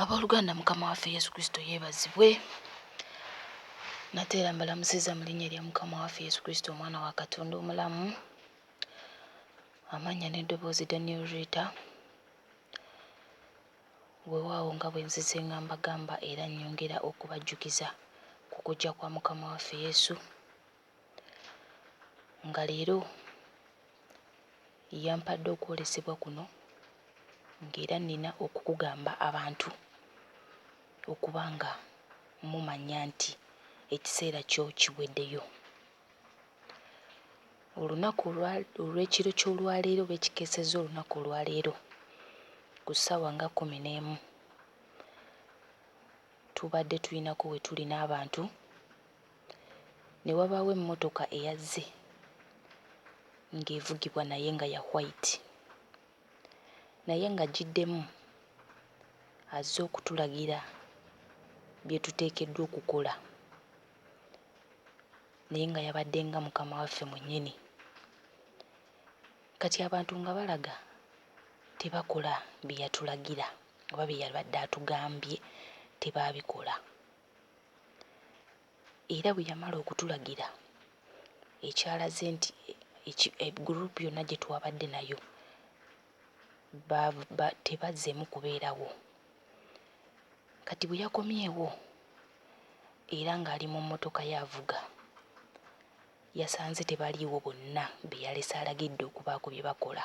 abooluganda mukama waffe yesu kristo yeebazibwe nate era mbalamusiza mu linnya erya mukama waffe yesu kristo omwana wa katonda omulamu amannya n'eddoboozi daniel rita weewaawo nga bwe nzize nga mbagamba era nnyongera okubajjukiza ku kujja kwa mukama waffe yesu nga leero yampadde okwolesebwa kuno ng'era nnina okukugamba abantu okuba nga mumanya nti ekiseera kyo kiweddeyo. Olunaku olwa olw'ekiro ky'olwaleero oba ekikeesezza olunaku olwaleero ku ssaawa nga kkumi n'emu tubadde tulinako we tuli n'abantu ne wabaawo emmotoka eyazze ng'evugibwa naye nga ya white naye ng'agiddemu azze okutulagira bye tuteekeddwa okukola naye nga yabadde nga mukama waffe mwennyini. Kati abantu nga balaga tebakola bye yatulagira oba bye yabadde atugambye tebaabikola. Era bwe yamala okutulagira ekyalaze nti group yonna gye twabadde nayo tebazzeemu kubeerawo. Kati bwe yakomyewo era ng'ali mu mmotoka ye avuga yasanze tebaliiwo bonna be yalese alagidde okubaako bye bakola.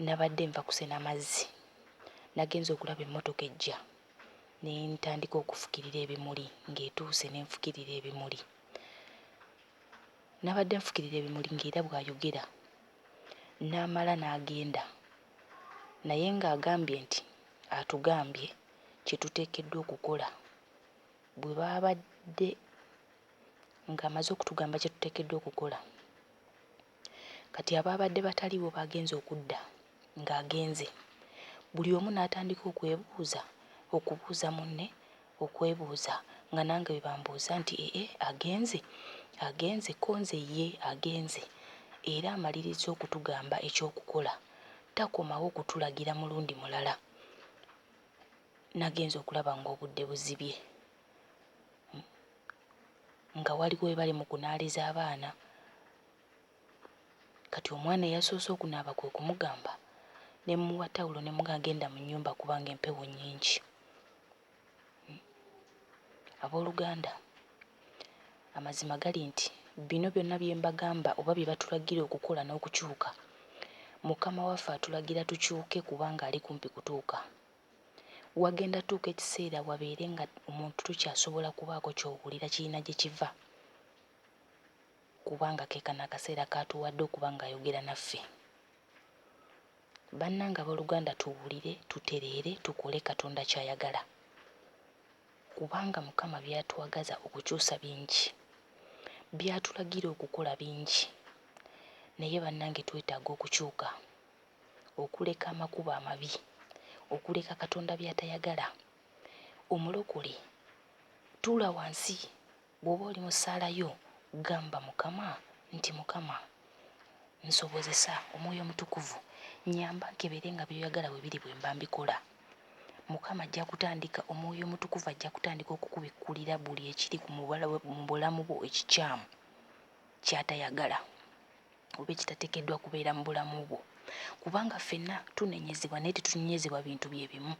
Nabadde nva kusena mazzi, nagenze okulaba emmotoka ejja ne ntandika okufukirira ebimuli ng'etuuse ne nfukirira ebimuli. Nabadde nfukirira ebimuli ng'era bw'ayogera n'amala n'agenda naye ng'agambye nti atugambye kye tuteekeddwa okukola. Bwe baabadde ng'amaze okutugamba kye tuteekeddwa okukola, Kati abaabadde bataliiwo baagenze okudda ng'agenze, buli omu n'atandika okwebuuza okubuuza munne okwebuuza nga nange bwe bambuuza nti ee agenze, agenze ko nze ye agenze era amalirizza okutugamba eky'okukola takomawo kutulagira mulundi mulala. Nagenze okulaba ng'obudde buzibye nga waliwo we bali mu kunaaliza abaana Kati omwana eyasoose okunaaba kwe kumugamba ne mmuwa tawulo ne muga genda mu nnyumba kubanga empewo nnyingi. Hmm. Abooluganda, amazima gali nti bino byonna bye mbagamba oba bye batulagira okukola n'okukyuka, Mukama waffe atulagira tukyuke kubanga ali kumpi kutuuka. Wagenda tuuka ekiseera wabeere nga omuntu tokyasobola kubaako ky'owulira kirina gye kiva. kubanga ke kano akaseera k'atuwadde okuba ng'ayogera naffe. Bannange abooluganda tuwulire, tutereere, tukole Katonda ky'ayagala kubanga Mukama by'atwagaza okukyusa bingi, by'atulagira okukola bingi naye bannange twetaaga okukyuka, okuleka amakubo amabi, okuleka Katonda by'atayagala. Omulokole tuula wansi Bw'oba oli mu ssaala yo, gamba Mukama nti, Mukama, nsobozesa, Omwoyo Omutukuvu, nnyamba nkebere nga by'oyagala bwe biri bwe mba mbikola. Mukama ajja kutandika, Omwoyo Omutukuvu ajja kutandika okukubikkulira buli ekiri ku mu bulamu bwo ekikyamu, ky'atayagala. oba ekitatekeddwa kubeera mu bulamu bwo kubanga ffenna tunenyezebwa naye tetunenyezebwa bintu bye bimu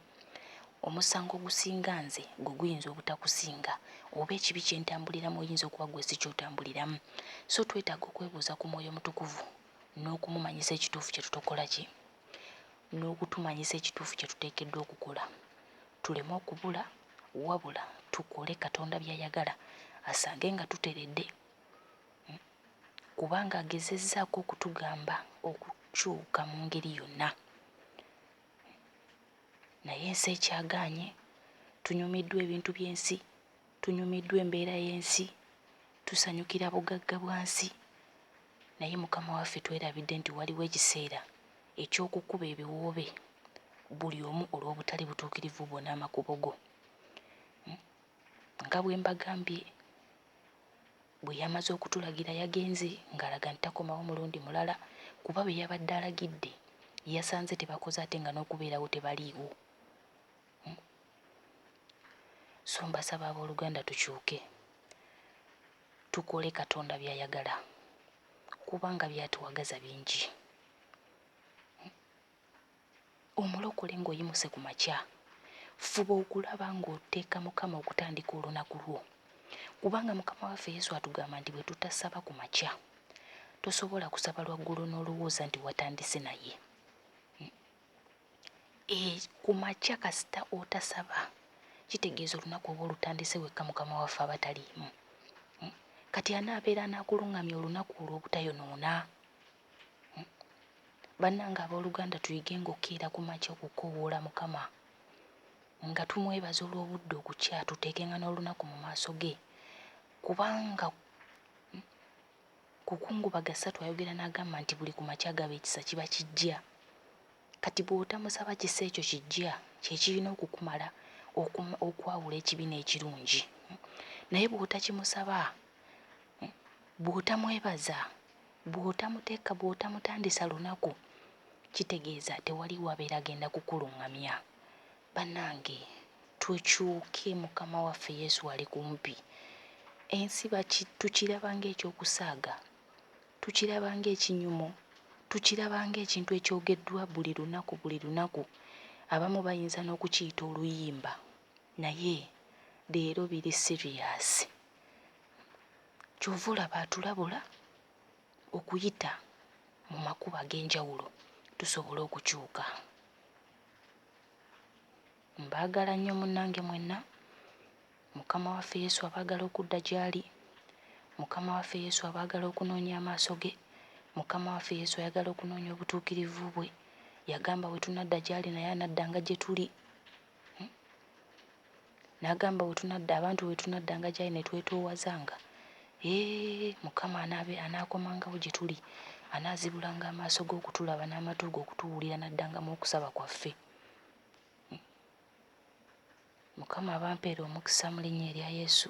omusango ogusinga nze gwe guyinza obutakusinga oba ekibi kye ntambuliramu oyinza okuba gwe si kyotambuliramu so twetaaga okwebuuza ku mwoyo mutukuvu n'okumumanyisa ekituufu kye tutokola ki n'okutumanyisa ekituufu kye tuteekeddwa okukola tuleme okubula wabula tukole katonda by'ayagala asange nga tuteredde kubanga agezezzaako okutugamba okukyuka mu ngeri yonna naye ensi ekyagaanye, tunyumiddwa ebintu by'ensi, tunyumiddwa embeera y'ensi, tusanyukira bugagga bwa nsi naye Mukama waffe twerabidde nti waliwo ekiseera eky'okukuba ebiwoobe buli omu olw'obutali butuukirivu bwo n'amakubo go. Nga bwe mbagambye Bwe yamaze okutulagira yagenze ng'alaga nti takomawo mulundi mulala kuba be yabadde alagidde yasanze tebakoze ate nga n'okubeerawo tebaliiwo. Hmm. So mbasaba abooluganda tukyuke tukole Katonda by'ayagala kubanga byatuwagaza bingi. Omulokole ng'oyimuse ku makya, fuba okulaba ng'oteeka Mukama okutandika olunaku lwo, kubanga Mukama waffe Yesu atugamba nti bwe tutasaba ku makya, tosobola kusaba lwa ggulo n'olowooza nti watandise naye. E, ku makya kasita otasaba kitegeeza olunaku oba olutandise wekka Mukama waffe aba taliimu. Kati anaabeera anaakulung'amya olunaku olwo obutayonoona? Bannange abooluganda tuyigenga okukeera ku makya okukoowoola Mukama nga tumwebaza olw'obudde okukya tuteekenga n'olunaku mu maaso ge kubanga kukungubaga ssatu ayogera n'agamba nti buli ku makya gaba ekisa kiba kijja kati bw'otamusaba kisa ekyo kijja kye kirina okukumala okwawula ekibi n'ekirungi naye bw'otakimusaba bw'otamwebaza Bw'otamuteka, bw'otamutandisa lunaku, kitegeeza tewaliwo abeera agenda kukulungamya. Banange tukyuke mukama waffe Yesu ali kumpi. Ensi baki tukiraba nga eky'okusaaga, tukiraba nga ekinyumo, tukiraba nga ekintu ekyogeddwa buli lunaku buli lunaku. Abamu bayinza n'okukiyita oluyimba naye leero biri serious. Kyova olaba atulabula okuyita mu makubo ag'enjawulo tusobole okukyuka. Mbaagala nnyo munnange mwenna. Mukama waffe Yesu abaagala okudda gy'ali. Mukama waffe Yesu abaagala okunoonya amaaso ge. Mukama waffe Yesu ayagala okunoonya obutuukirivu bwe. Yagamba bwe tunadda gy'ali naye anadda nga gye tuli. N'agamba, wetunadda, abantu wetunaddanga gy'ali ne twetoowazanga, Eeh, Mukama anaabe, anaakomangawo gye tuli, anaazibulanga amaaso Ge okutulaba, n'amatu Ge okutuwulira, n'addangamu okusaba kwaffe. Hmm. Mukama abampeere omukisa mu Linnya erya Yesu.